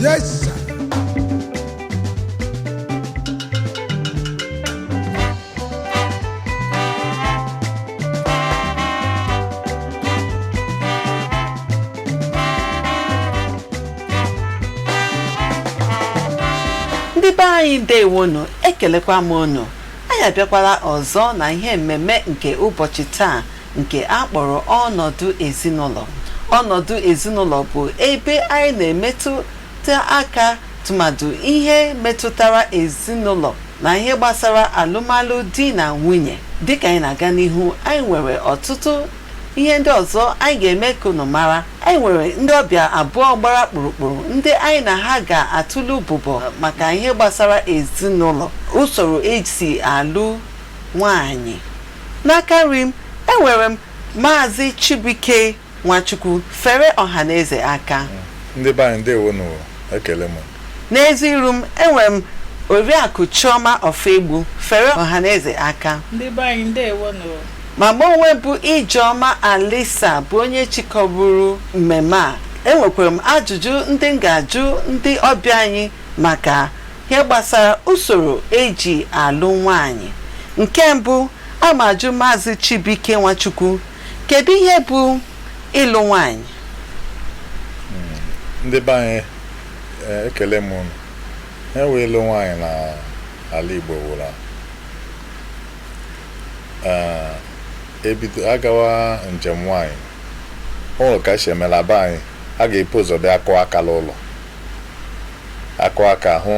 Yes, sir. ndị be anyị ndewonu ekelekwa m unu Anyị abịakwala ọzọ na ihe mmemme nke ụbọchị taa nke a kpọrọ ọnọdụ ezinụlọ. Ọnọdụ ezinụlọ bụ ebe anyị na-emetụta aka tụmadụ ihe metụtara ezinụlọ na ihe gbasara alụmalụ di na nwunye. Dịka anyị na-aga n'ihu, anyị nwere ọtụtụ Ihe ndị ọzọ anyị ga-eme ka unu mara, anyị nwere ndị ọbịa abụọ gbara kpụrụkpụrụ ndị anyị na ha ga-atụle ụbụbọ maka ihe gbasara ezinụlọ, usoro e si alụ nwaanyị. N'aka nri m, enwere m Maazị Chibuike Nwachukwu fere ọhaneze aka. Ndị be anyị ndewonu o, ekele m. N'ezi iru m, enwere m Oriakụ Chioma Ọfọegbu fere ọhaneze aka. Ndị be anyị ndewonu o. Ma mụ onwe m bụ Ijeọma Alisa bụ onye chịkọburu mmemme a. Enwekwara m ajụjụ ndị m ga-ajụ ndị ọbịa anyị maka ihe gbasara usoro eji alụ nwaanyị. Nke mbụ, a ma ajụ Maazị Chibuike Nwachukwu, kedu ihe bụ ịlụ nwaanyị? ndị be anyị eh, ekele m unu ihe wụ ịlụ nwaanyị na ala Igbo wụ la eh, e bido agawa njem nwaanyị o nwere ka esi eme la be anyị a ga-epu ụzọ bịa akụ aka n'ụlọ akụ aka hụ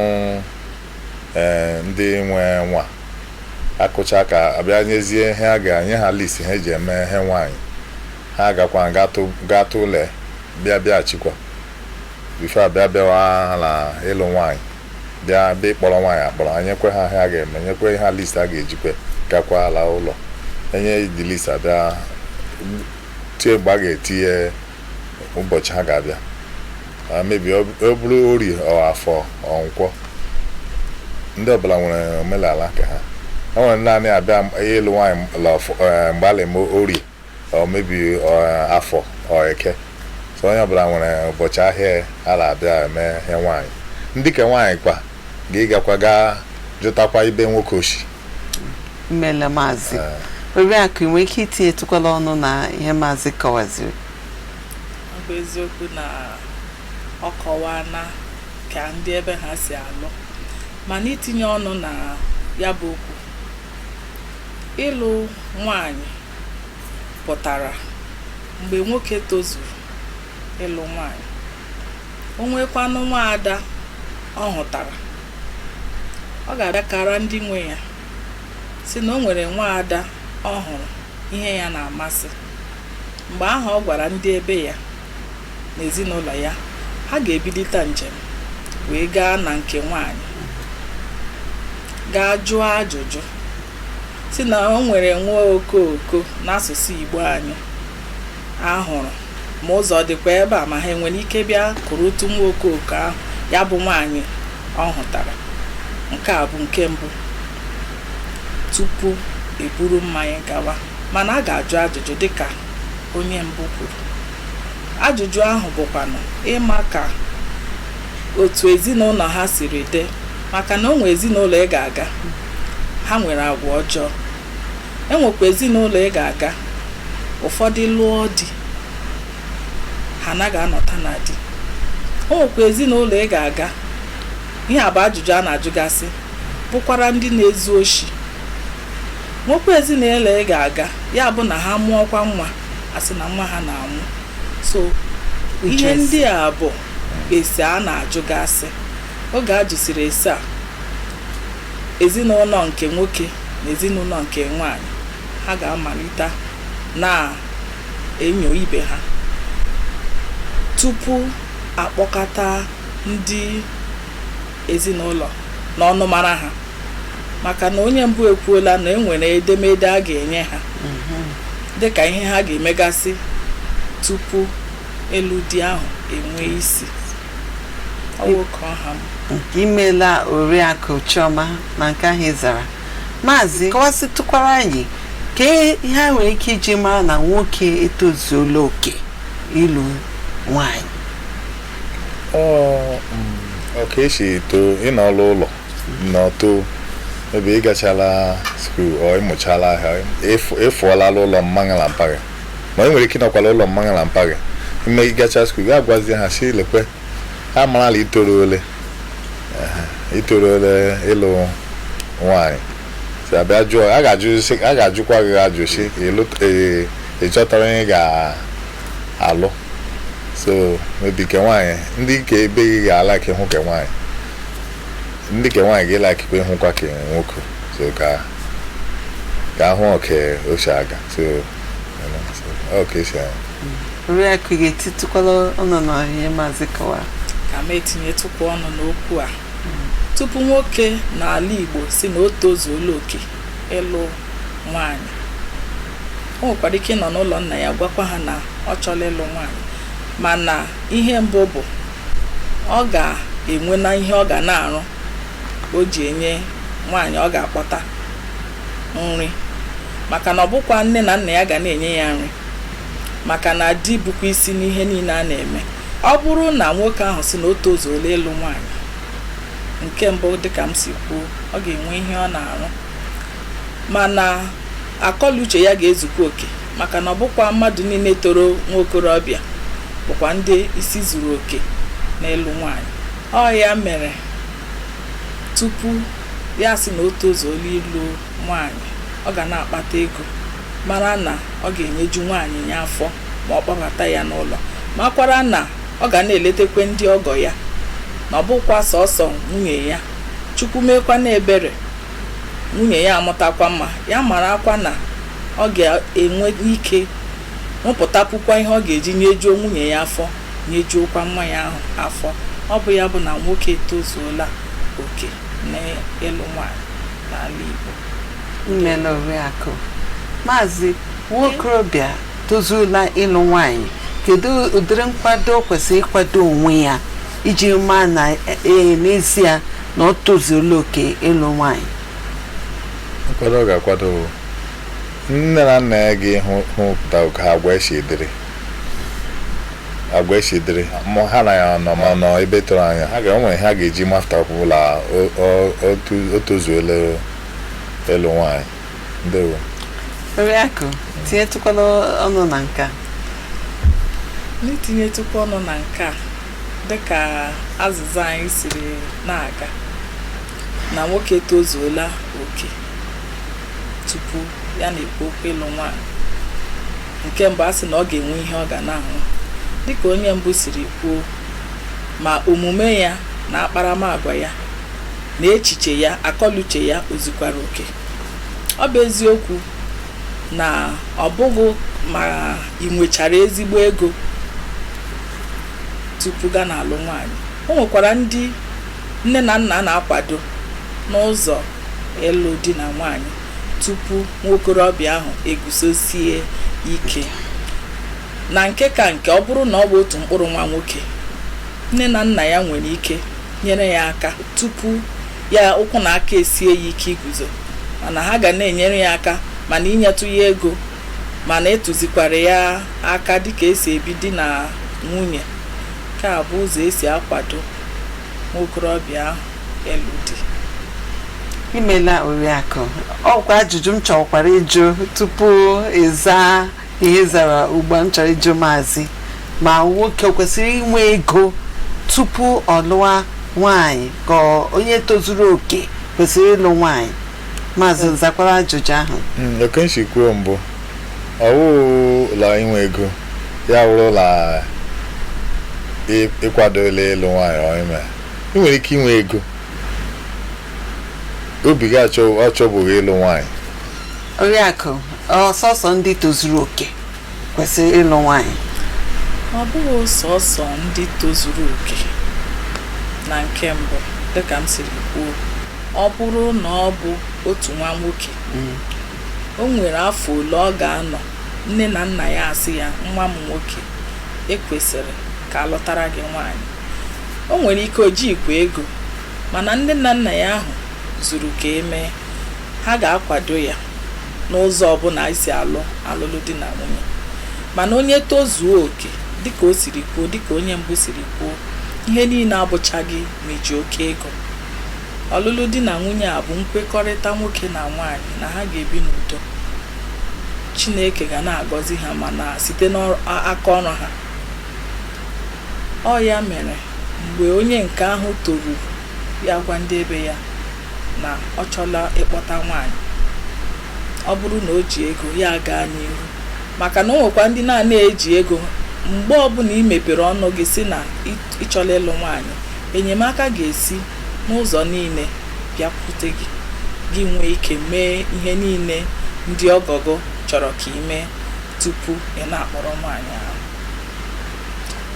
eh, ndị nwe nwa akụcha aka abịa nyezie ihe a ga-enye ha list ihe eji eme ihe nwaanyị ha gakwa gatụ ụlọ bịa bịaghachikwa before a bịa bịawa na ịlụ nwaanyị bịa bịa ịkpọrọ nwaanyị akpọrọ a nyekwe ha ihe a ga-eme nyekwe ha list a ga-ejikwe gakwa ala ụlọ e nye di list abịa tie mgbe a ga-etinye ụbọchị ha ga-abịa maybe ọ ọ bụrụ orie ọ afọ ọ nkwọ ndị ọbụla nwere omenala ke ha o nwere ndị anaghị abịa ịlụ nwaanyị la ọfọ- eh, mgbe a na-eme orie ọ maybe ọ, afọ ọ eke so onye ọbụla nwere ụbọchị ahịa ya a na-abịa eme ihe nwaanyị ndị ke nwaanyị kwa ga-ịgakwa gaa jụtakwa ebe nwoke o shi imeela maazị oriakụ i nwere ike itinyetụkwala ọnụ na ihe maazị kọwaziri ọ bụ eziokwu na ọ kọwaana ka ndị ebe ha si alụ mana itinye ọnụ na ya bụ okwu ịlụ nwanyị pụtara mgbe nwoke tozuru ịlụ nwaanyị o nweekwanụ nwaada ọ hụtara ọ ga-abịa kara ndị nwe ya sị na o nwere nwaada ọ hụrụ ihe ya na-amasị mgbe ahụ ọ gwara ndị ebe ya na ezinụlọ ya ha ga-ebilite njem wee gaa na nke nwaanyị gaa jụọ ajụjụ sị na o nwere nwa okooko n'asụsụ Igbo anyị a hụrụ ma ụzọ dịkwa ebe a ma ha enwere ike bịa kụrụ otu nwa okooko ahụ ya bụ nwaanyị ọ hụtara nke a bụ nke mbụ tupu e buru mmanya gawa mana a ga-ajụ ajụjụ dịka onye mbụ kwuru ajụjụ ahụ bụkwanụ ịma ka otu ezinụlọ ha siri dị maka na o nwere ezinụlọ ị ga-aga Ha nwere agwa ọjọọ. E nwekwa ezinụlọ ị ga-aga, ụfọdụ lụọ di, ha anaghị anọta na di. O nwekwa ezinụlọ ị ga-aga, ihe a bụ ajụjụ a na-ajụgasị, bụkwara ndị na-ezu oshi. Nwekwa ezinụlọ ị ga-aga, ya bụ na ha mụọkwa nwa, a sị na nwa ha na-anwụ. So, ihe ndị a bụ ese a na-ajụgasị. Oge a jụsịrị ese a, ezinụlọ nke nwoke na ezinụlọ nke nwaanyị ha ga-amalite na-enyo ibe ha tupu a kpọkọta ndị ezinụlọ na ọnụmara ha maka na onye mbụ ekwuola na e nwere edemede a ga-enye ha dịka ihe ha ga-emegasị tupu ịlụ di ahụ enwee isi Ọ nwoke ọha m. nke imeela oriakụ chioma na nke ahụ ị zara maazị kọwasịtụkwara anyị ka ihe e nwere ike iji mara na nwoke etozuola oke ịlụ nwanyị Ọ, mm, ọ ka e si eto ị nọọla ụlọ nọto ebe ị gachala skuul or ị mụchala ahịa ị fụọla la ụlọ mma gị la mpa gị mana e nwere ike ịnọkwa la ụlọ mma gị la mpa gị ime gị gacha skuul gị agwazie ha sị lekwe ha amara la i toruole Ehe, i toruole ịlụ nwaanyị si abịa jụọ a ga-ajụ sị- a ga-ajụkwa gị ajụ si ịlụ- ee, ị chọtara onye ị ga-alụ so maybe ke nwaanyị ndị nke ebe gị ga-ala ka ịhụ ke nwaanyị ndị ke nwaanyị ga-ele akịkwa ịhụkwa ke nwoke so ka ka ahụ ọ ka o si aga so Ọ ka esi ahụ. oriakụ ga-etitụkwala ọnụ na ihe maazị kọwara ka m etinyetụkwa ọnụ n'okwu a tupu nwoke n'ala igbo sị na o tozuola oke ịlụ nwaanyị o nwekwara ike ịnọ n'ụlọ nna ya gwakwa ha na ọ chọrọ ịlụ nwaanyị mana ihe mbụ bụ ọ ga-enwe na ihe ọ ga na-arụ o ji enye nwaanyị ọ ga-akpọta nri maka na ọ bụkwa nne na nna ya ga na-enye ya nri maka na di bụkwa isi n'ihe niile a na-eme ọ bụrụ na nwoke ahụ sị na o tozuola ịlụ nwaanyị nke mbụ dịka m si kwuo ọ ga-enwe ihe ọ na-arụ mana akọluche ya ga-ezukwa oke maka na ọ bụkwa mmadụ niile toro nwa okorobịa bụkwa ndị isi zuru oke n'ịlụ nwaanyị ọ ya mere tupu ya asị na o tozuola ịlụ nwaanyị ọ ga na-akpata ego mara na ọ ga-enyeju nwaanyị ya afọ ma ọ kpọbata ya n'ụlọ makwara na ọ ga na-eletekwe ndị ọgọ ya na ọ bụkwa sọsọ nwunye ya chukwu meekwa na ebere nwunye ya amụtakwa nwa ya marakwa na ọ ga-enwe ike rụpụtapụkwa ihe ọ ga-eji nyejuo nwunye ya afọ nyejuokwa nwa ya ahụ afọ ọ bụ ya bụ na nwoke etozuola oke n'ịlụ nwaanyị n'ala Igbo imeela oriakụ maazị nwa okorobịa tozuola ịlụ nwaanyị kedu ụdịrị nkwado o kwesịrị ịkwado onwe ya iji maa na ee n'ezie na o tozuola oke ịlụ nwaanyị nkwado ọ ga-akwado nne na nna ya ga-ahụ hụpụta ka agwa ya si dịrị agwa ya si dịrị ma ha na ya nọ ma ọ nọ ebe tere anya ha ga-enwe ihe ha ga-eji mafụta ọbụla o- o- otu- o tozuola ịlụ nwaanyị ndewo oriakụ tinyetụkwala ọnụ na nke a n'itinyetụkwa ọnụ na nke a dịka azịza anyị siri na-aga na nwoke tozuola oke tupu ya na-ekwu okwu ịlụ nwaanyị nke mbụ a sị na ọ ga-enwe ihe ọ ga na-arụ dịka onye mbụ siri kwuo ma omume ya na akparamagwa ya na echiche ya akọluche ya o zukwara oke ọ bụ eziokwu na ọ bụghị ma i nwechara ezigbo ego tupu ga na-alụ nwaanyị o nwekwara ndị nne na nna na-akwado n'ụzọ ịlụ di na nwaanyị tupu nwokorobịa ahụ eguzosie ike na nke ka nke ọ bụrụ na ọ bụ otu mkpụrụ nwa nwoke nne na nna ya nwere ike nyere ya aka tupu ya ụkwụ na aka esie ya ike iguzo mana ha ga na-enyere ya aka ma na inyetụ ya ego ma na ịtụzikwara ya aka dịka esi ebi di na nwunye nke a bụ ụzọ esi akwado nwokorobịa ahụ ịlụ di imela oriakụ ọkwa ajụjụ m chọkwara ịjụ tupu ịza ihe ị zara ugbu a m chọrọ ịjụ maazị ma nwoke o kwesịrị inwe ego tupu ọ lụwa nwaanyị ka ọ- onye tozuru oke kwesịrị ịlụ nwaanyị maazị zakwara ajụjụ ahụ Mm, oke m si kwuo mbụ ọwụ la inwe ego ya wụrụ la ịkwadola ịlụ nwaanyị ọ ime ị nwere ike inwe ego obi gị achọbụghị ịlụ nwaanyị oriakụ ọ sọsọ ndị tozuru oke kwesịrị ịlụ nwaanyị ọ bụghị sọsọ ndị tozuru oke na nke mbụ dịka m siri kwuo ọ bụrụ na ọ bụ otu nwa nwoke o nwere afọ ole ọ ga-anọ nne na nna ya asị ya nwa m nwoke ekwesịrị ka alụtara gị nwaanyị O nwere ike o jighịkwa ego, mana ndị nne na nna ya ahụ zuru ka e mee, ha ga-akwado ya n'ụzọ ọbụla e si alụ alụlụ di na nwunye. Mana onye tozuo oke, dịka o siri kwuo, dịka onye mbụ siri kwuo, ihe niile abụchaghị ma iji oke ego. Ọlụlụ di na nwunye a bụ nkwekọrịta nwoke na nwaanyị na ha ga-ebi n'udo. Chineke ga na-agọzi ha mana site n'aka ọrụ ha. Ọ ya mere mgbe onye nke ahụ toru ya gwa ndị ebe ya na ọ chọla ịkpọta nwaanyị, ọ bụrụ na o ji ego ya gaa n'ihu maka na o nwekwa ndị na-ana eji ego mgbe ọbụla i mepere ọnụ gị sị na ị chọla ịlụ nwaanyị enyemaka ga-esi n'ụzọ niile bịakwute gị gị nwee ike mee ihe niile ndị ọgọ gị chọrọ ka ị mee tupu ị na-akpọrọ nwaanyị ahụ.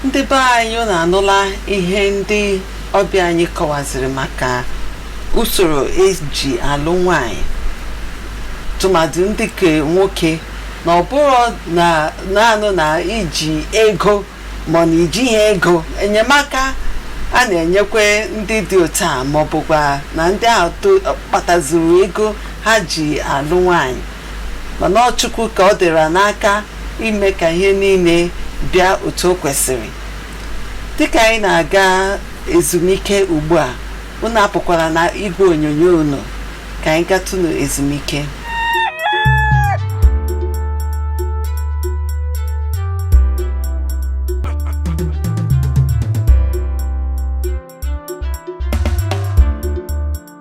ndị be anyị unu anụla ihe ndị ọbịa anyị kọwaziri maka usoro eji alụ nwanyị tụmadụ ndị nke nwoke na ọ bụrụ na naanị na iji ego ma na ijighị ego enyemaka a na-enyekwa ndị dị otu a ma ọ bụkwa na ndị ahụ to- kpatazuru ego ha ji alụ nwanyị mana ọ Chukwu ka ọ dịra n'aka ime ka ihe niile bịa otu o kwesịrị dịka anyị na-aga ezumike ugbu a unu apụkwara na igwe onyonyo unu ka anyị gatụnụ ezumike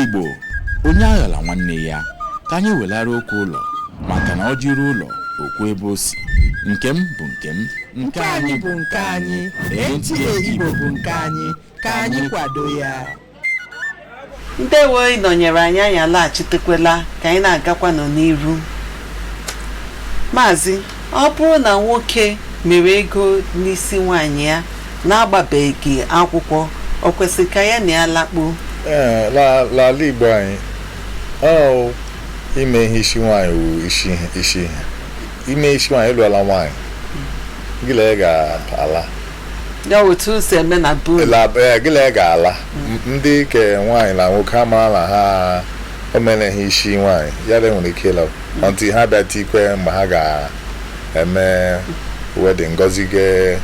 igbo onye aghala nwanne ya ka anyị welara okwu ụlọ maka na o jiri ụlọ okwu ebe o si nke m bụ nke m nke anyị bụ nke anyị NTA Igbo bụ nke anyị ka anyị kwado ya ndewo ị nọnyere anyị anyị alaghachitekwela ka anyị na-agakwanụ n'iru maazị ọ bụrụ na nwoke mere ego n'isi nwaanyị ya na-agbabeghị akwụkwọ o kwesịrị ka ya na ya lakpuo Ee, la- n'ala igbo anyị ọ ime ihe isi nwaanyị wụ isi ihe isi ihe ime isi nwaanyị ị lụọla nwaanyị gị na ya ga-ala ya otu o si eme na be unu La- eh, gị na ya ga-ala M- ndị ke nwaanyị na nwoke ha mara na ha o mere ihe isi nwaanyị ya na nwere ike ịla until ha bịa tikwe mgbe ha ga-eme wedding gọzie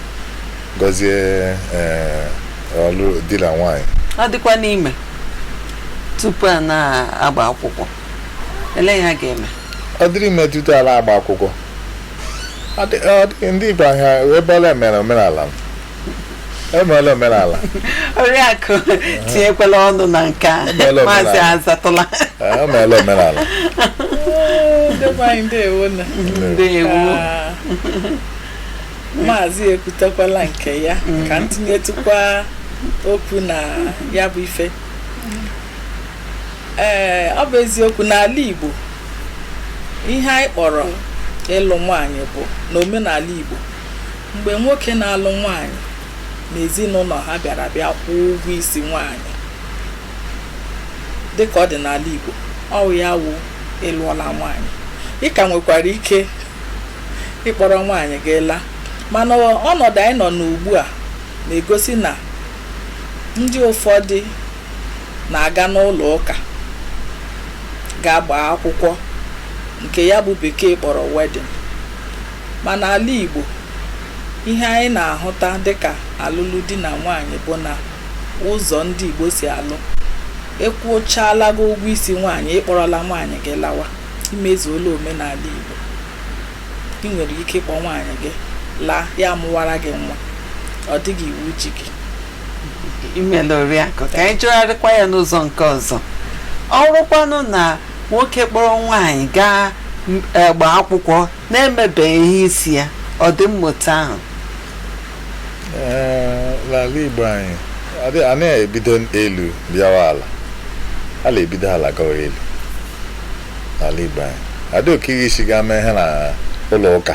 gọzie eh, ọlụ di na nwaanyị ọ dịkwanụ ime tupu a na-agba akwụkwọ ele ihe a ga-eme ọ dịrị ime tutu a la-agba akwụkwọ ndị Igbo ahịa ebe ọla e mere omenala emeela omenala oriakụ tinyekwala ọnụ na nke a Emeela omenala. maazị azatụla Ee, emeela omenala ndewo Ah, maazị ekwutekwala nke ya ka m tinyetụkwa okwu na ya bụ ife ee ọ bụ eziokwu n'ala Igbo ihe anyị kpọrọ ịlụ nwaanyị bụ n'omenala Igbo mgbe nwoke na-alụ nwaanyị na ezinụlọ ha bịara bịa kwụọ ụgwọ isi nwaanyị dịka ọ dị n'ala Igbo ọ wụ ya wụ ị lụọla nwaanyị ị ka nwekwara ike ịkpọrọ nwaanyị gị laa mana ọnọdụ anyị nọ n'ugbu a na-egosi na ndị ụfọdụ na-aga n'ụlọ ụka ga-agba akwụkwọ nke ya bụ bekee kpọrọ wedding ma n'ala Igbo ihe anyị na-ahụta dịka alụlụ di na nwaanyị bụ na ụzọ ndị Igbo si alụ ịkwụchaala gị ụgwọ isi nwaanyị ị kpọrọla nwaanyị gị lawa i mezuola omenala Igbo i nwere ike ịkpọ nwaanyị gị laa ya amụwara gị nwa ọ dịghị iwu ji gị imela oriakụ ka anyị jụgharịkwa ya n'ụzọ nke ọzọ ọ bụrụkwanụ na nwoke kpọrọ nwaanyị gaa m- eh, gbaa akwụkwọ na-emebeghị ihe isi ya ọ dị mma otu ahụ Ee, n'ala igbo anyị adị- anaghị ebido elu bịawa ala a na-ebido ala gawa elu n'ala igbo anyị adịghị oke ihe isi gaa mee ihe na ụlọ ụka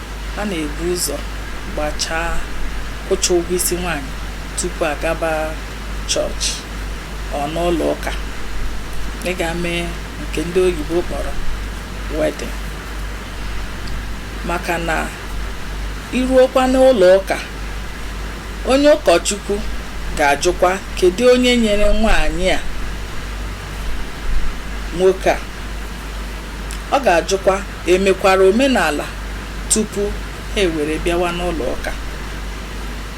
A na-ebu ụzọ gbachaa, kwụchaa ụgwọ isi nwaanyị tupu a gaba chọọchị ọ n'ụlọ ụka ịga mee nke ndị oyibo kpọrọ wedding maka na i ruokwa n'ụlọ ụka onye ụkọchukwu ga-ajụkwa kedu onye nyere nwaanyị a nwoke a ọ ga-ajụkwa E mekwara omenala tupu ha ewere bịawa n'ụlọụka.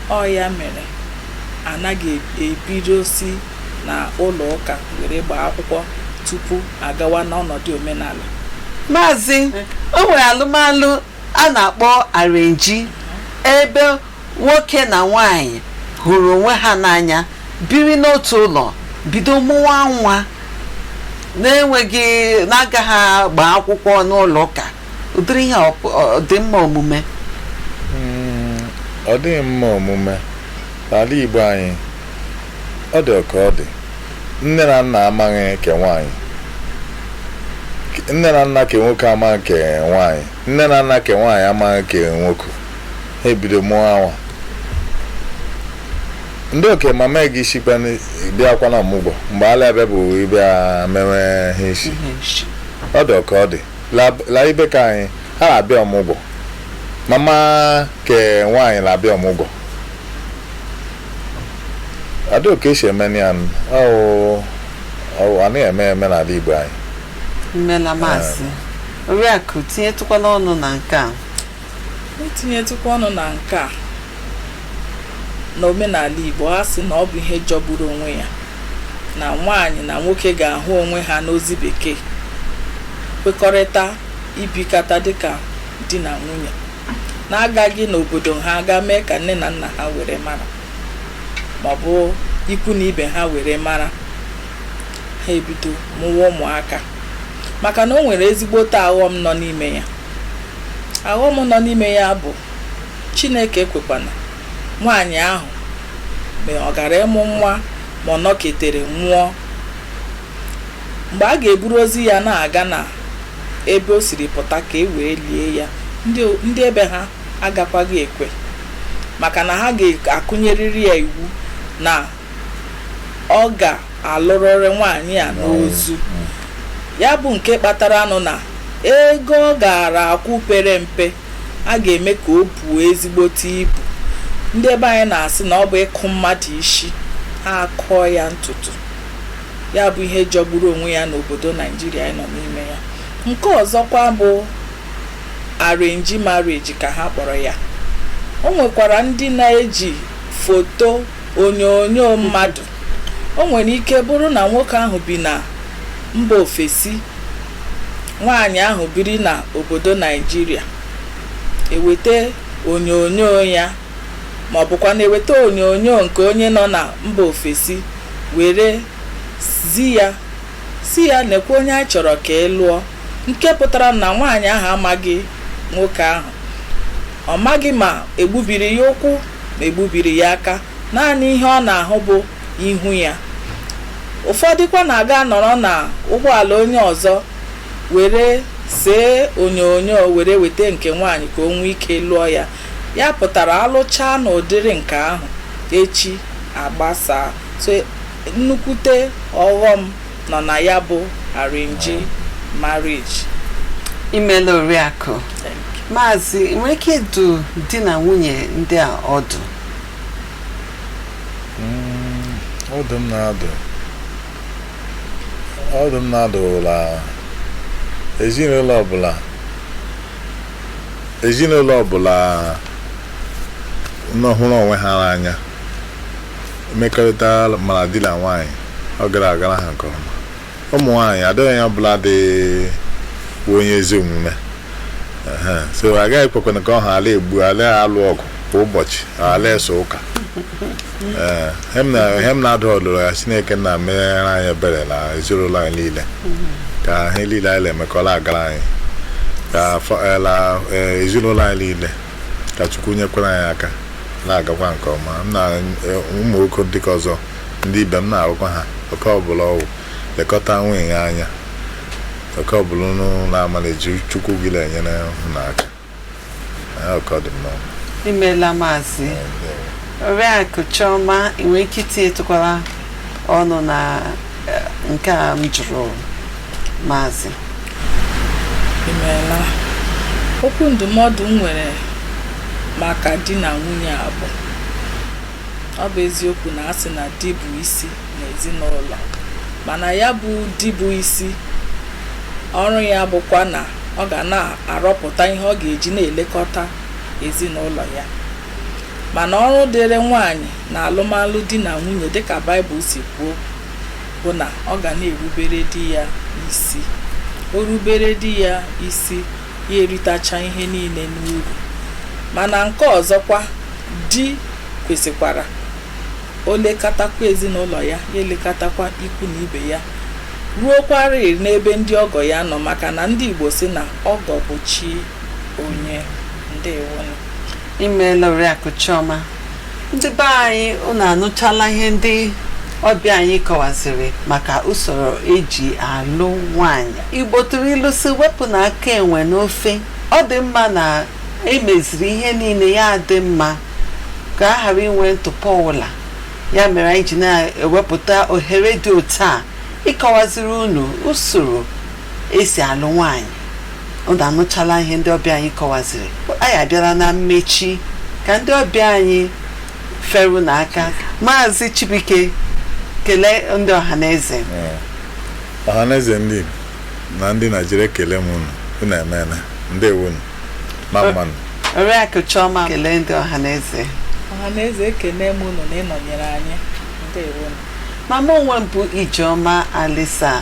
Ọ ya mere a naghị ebido si na ụlọụka were gbaa akwụkwọ tupu a gawa n'ọnọdụ omenala. Maazị, o nwere alụmalụ a na-akpọ arrangee ebe Nwoke na nwaanyị hụrụ onwe ha n'anya, biri n'otu ụlọ, bido mụwa nwa na-enweghị na-agaghị agba akwụkwọ n'ụlọ ụka ụdịrị ihe ọ pụ- ọ dị mma omume Mm, ọ dịghị mma omume n'ala Igbo anyị ọ dị ka ọ dị nne na nna amaghị ke nwaanyị nne na nna ke nwoke amaghị ke nwaanyị nne na nna ke nwaanyị amaghị ke nwoke ha ebido mụwa nwa ndị oke mama ga-esikwa bịakwa na ọmụgwọ mgbe ala ebe bụ ịbịa mewe ihe isi ọ dị ọka ọ dị La- la ibe ke anyị ha na-abịa ọmụgwọ mama ke nwaanyị na-abịa ọmụgwọ adị oke esi eme ya ọwụ ọwụ anaghị eme eme n'ala igbo anyị imela maazị oriakụ tinyetụkwala ọnụ na nke a N'itinyetụkwa ọnụ na nke a, n'omenala Igbo, a sị na ọ bụ ihe jọgburu onwe ya na nwaanyị na nwoke ga-ahụ onwe ha n'ozi bekee kwekọrịta ibikata dịka di na nwunye na-agaghị n'obodo ha gaa mee ka nne na nna ha were mara maọbụ ikwu na ibe ha were mara ha ebido mụwa ụmụaka maka na o nwere ezigbote aghọm nọ n'ime ya aghọm nọ n'ime ya bụ chineke ekwekwana nwaanyị ahụ mgbe ọ gara ịmụ nwa ma ọ nọketere nwụọ mgbe a ga-eburu ozu ya na-aga na ebe o siri pụta ka e wee lie ya ndị ebe ha agakwaghị ekwe maka na ha ga-akụnyerịrị ya iwu na ọ ga-alụrịrị nwaanyị a n'ozu ya bụ nke kpatara nụ na ego ọ gaara akwụ pere mpe a ga-eme ka o buo ezigbote ibu ndị ebe anyị na-asị na ọ bụ ịkụ mmadụ isi ha akụọ ya ntutu ya bụ ihe jọgburu onwe ya n'obodo naijiria anyị nọ n'ime ya nke ọzọkwa bụ arrange marriage ka ha kpọrọ ya o nwekwara ndị na-eji foto onyonyo mmadụ o nwere ike bụrụ na nwoke ahụ bi na mba ofesi nwaanyị ahụ biri na obodo naijiria eweta onyonyo ya ma ọ bụkwa na eweta onyonyo nke onye nọ na mba ofesi were zi ya sị ya nekwa onye a chọrọ ka ị lụọ nke pụtara na nwaanyị ahụ amaghị nwoke ahụ ọ maghị ma egbubiri ya ụkwụ ma egbubiri ya aka, naanị ihe ọ na-ahụ bụ ihu ya. Ụfọdụkwa na-aga anọrọ na ụgbọala onye ọzọ were see onyonyo were weta nke nwaanyị ka o nwee ike lụọ ya. Ya pụtara a lụchaa n'ụdịrị nke ahụ, echi agbasaa. So nnukwute ọghọm nọ na ya bụ arrange marriage imela oriakụ maazị ị nwere ike ịdụ di na nwunye ndị a ọdụ ọdụ m na-adụ ọdụ m na-adụ wụ la ezinụlọ ọbụla ezinụlọ ọbụla nọ hụrụ onwe ha n'anya mmekọrịta mara di na nwaanyị ọ gara agara ha nke ọma ụmụ nwaanyị adịghị onye ọbụla dị bụ onye ezi omume Ehe. so agaghị ekwekwana ka ọ ha a la-egbu a la-alụ ọgụ kwa ụbọchị a la-eso ụka Ee, ihe m na- ihe m na-adụ ọdụ wụ ya chineke nna meere anyị ebere na ezinụlọ anyị niile ka ihe niile anyị na-emekọrọ agara anyị ka afọ- eh, la- eh, ezinụlọ anyị niile ka chukwu nyekwara anyị aka na-agakwa nke ọma m na eh, ụmụ nwoke ndị nke ọzọ ndị ibe m na-adụkwa ha nwoke ọbụla ọ wụ lekọta nwunye gị anya oge ọbụla unu na-amaliji chukwu ga na-enyere unu aka Eh, okay ọ dị mma imeela maazị Eh, ndewo. oriakụ chioma ị nwere ike itinyetụkwara ọnụ na nke a m jụrụ maazị i meela okwu ndụmọdụ m nwere maka di na nwunye a bụ ọ bụ eziokwu na a sị na di bụ isi n'ezinụlọ mana ya bụ di bụ isi ọrụ ya bụkwa na ọ ga na-arọpụta ihe ọ ga-eji na-elekọta ezinụlọ ya Mana ọrụ dịịrị nwaanyị n'alụmalụ di na nwunye dịka Baịbụl si kwuo bụ na ọ ga na-erubere di ya isi. O rubere di ya isi, ya eritacha ihe niile n'uru. Mana nke ọzọkwa, di kwesịkwara o lekatakwa ezinụlọ ya, ya elekatakwa ikwu na ibe ya, ruokwarịị n'ebe ndị ọgọ ya nọ maka na ndị Igbo sị na ọgọ bụ chi onye. Ndeewonụ. i meela oriakụ chioma ndị be anyị unu anụchala ihe ndị ọbịa anyị kọwaziri maka usoro e ji alụ nwaanyị igbo tụrụ ilu sị wepụnụ aka enwe n'ofe ọ dị mma na e meziri ihe niile ya dị mma ka a ghara inwe ntụpọ ọbụla ya mere anyị ji na-ewepụta ohere dị otu a ịkọwaziri unu usoro e si alụ nwaanyị unu anụchala ihe ndị ọbịa anyị kọwaziri anyị abịala na mmechi ka ndị ọbịa anyị feere unu aka maazị chibuike kelee ndị ọha na eze Ee. ọhaneze ndị Igbo na ndị naịjirịa ekele m unu unu emeela ndewo unu mma mma nụ oriakụ chioma kelee ndị ọha na eze ọha na eze ekene m unu na ịnọnyere anyị ndewo mma mma onwe m bụ ijeọma alisa